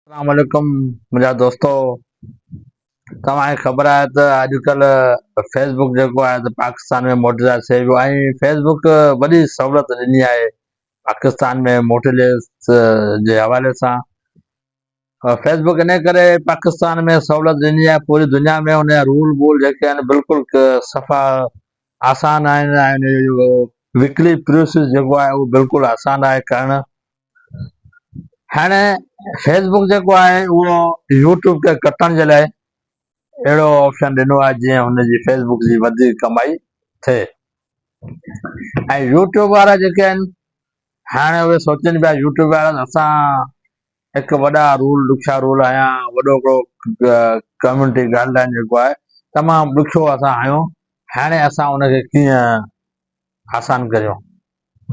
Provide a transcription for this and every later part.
اسلام عليڪم منهنجا دوستو توهان کي خبر آهي ته اڄ ڪلهه فيس بڪ جيڪو آهي ته پاڪستان ۾ مونيٽائز ٿئي پيو ۽ فيس بڪ وڏي سهولت ڏني آهي پاڪستان ۾ مونيٽائز جي حوالي سان فيس بڪ ان ڪري پاڪستان ۾ سهولت ڏني آهي پوري دنيا ۾ ان جا رول وول جيڪي آهن بلڪل صفا آسان آهن وڪلي پروسيس جيڪو آهي اهو بلڪل آسان آهي ڪرڻ هاڻي فيس بڪ جيڪو آهي اهو يوٽيوب کي ڪٽڻ جي لاء اهڙو آپشن ڏنو آهي جيئن هن جي فيس بڪ جي وڌيڪ ڪمائي ٿئي ۽ يوٽيوب وارا جيڪي آهن هاڻي اهي سوچن پيا يوٽيوب وارا اسان هڪ وڏا رول ڏکيا رول آيا وڏو هڪڙو ڪميونٽي گائيڊ لائن جيڪو آهي تمام ڏکيو اسان آيون هاڻي اسان ان کي ڪيئن آسان ڪريون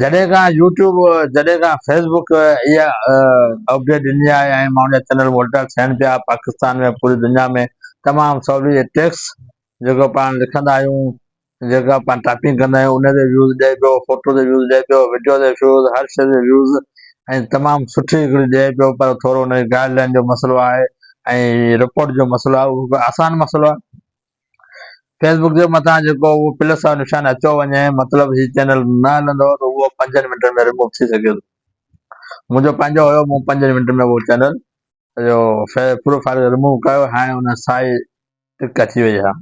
جڏهن کان يوٽيوب جڏهن کان فيس بڪ اها اپڊيٽ ڏني آهي ۽ ماڻهن جا چينل مونيٽائيز ٿين پيا پاڪستان ۾ پوري دنيا ۾ تمام سولي جي ٽيڪس جيڪو پاڻ لکندا آهيون جيڪا پاڻ ٽائپنگ ڪندا آهيون ان تي ويوز ڏئي پيو فوٽو تي ويوز ڏئي پيو وڊيو تي ويوز هر شي تي ويوز ۽ تمام سٺي هڪڙي ڏئي پيو پر ٿورو ان جي گائيڊ لائين جو مسئلو آهي ۽ رپورٽ جو مسئلو آهي اهو آسان مسئلو آهي فيس بڪ جي مٿان جيڪو اهو پلس وارو نشان اچيو وڃي مطلب هي چينل نه هلندو ته اهو پنجن منٽن ۾ ريموو ٿي سگهي ٿو منهنجو پنهنجو هيو مون پنجن منٽن ۾ اهو چينل جو پروفائل ريموو ڪيو هاڻي ان سائي ٽڪ اچي وئي آهي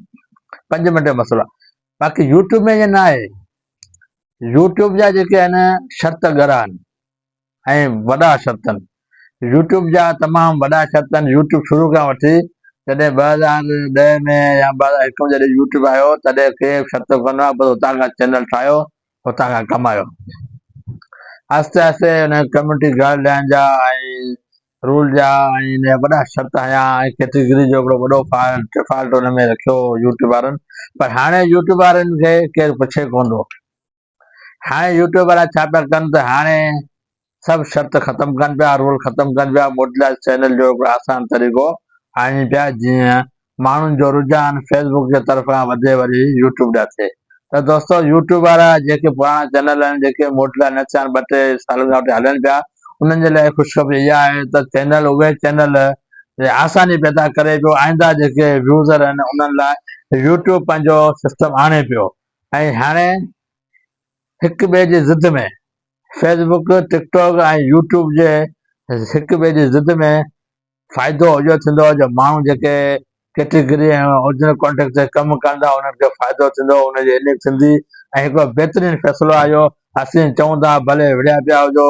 پنج منٽ جو مسئلو آهي باقي يوٽيوب ۾ ائين نه آهي يوٽيوب جا جيڪي آهن شرط ڳرا آهن ۽ وڏا شرطن يوٽيوب جا تمام وڏا شرطن يوٽيوب شروع کان وٺي جڏهن ٻه هزار ڏهه ۾ يا ٻه هزار هڪ ۾ جڏهن يوٽيوب آيو تڏهن ڪي به شرط ڪونه هئا بس اتان کان چينل ٺاهيو اتان کان ڪمايو آهستي آهستي ان ڪميونٽي گائيڊ لائين جا ۽ رول جا ۽ ان جا وڏا شرط هنيا ۽ ڪيٽيگري جو هڪڙو وڏو فالٽ ڊفالٽ ان ۾ رکيو يوٽيوب وارن پر هاڻي يوٽيوب وارن کي ڪير پڇي ڪونه ٿو. هاڻي يوٽيوب وارا ڇا پيا ڪن ته هاڻي سڀ شرط ختم ڪن پيا رول ختم ڪن پيا موٽيلائيز چينل جو هڪڙو آسان طريقو آڻين پيا جيئن ماڻهن جو رجحان فيس بڪ جي طرف کان وڌي وري يوٽيوب ڏانهن ٿئي ته دوستو يوٽيوب وارا جيڪي پراڻا چينل آهن جيڪي موٽيلائيز نه ٿيا آهن ٻه ٽي سالن کان وٺي هلن پيا انهن جي لاء خوشخبري اها آهي ته چينل اهي چينل آساني پيدا ڪري پيو آئنده جيڪي يوزر آهن انهن لاء يوٽيوب پنهنجو سسٽم آڻي پيو ۽ هاڻي هڪ ٻئي جي ضد ۾، Facebook, TikTok ۽ YouTube جي هڪ ٻئي جي ضد ۾ فائدو اهو ٿيندو جو ماڻهو جيڪي ڪيٽيگري ۽ اورجنل ڪانٽينٽ تي ڪم ڪن ٿا انهن کي فائدو ٿيندو ان جي عليگ ٿيندي ۽ هڪڙو بهترين فيصلو آهي اهو اسين چئون ٿا ڀلي وڙهيا پيا هجو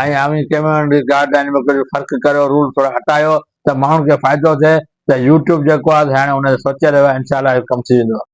۽ اوهين ڪميونٽي گائيڊ لائين ۾ ڪجهه فرق ڪريو رول ٿورا هٽايو ته ماڻهن کي فائدو ٿئي ته يو ٽيوب جيڪو آهي سي هاڻي ان تي سوچي رهيو آهي انشاء الله اهو ڪم ٿي ويندو.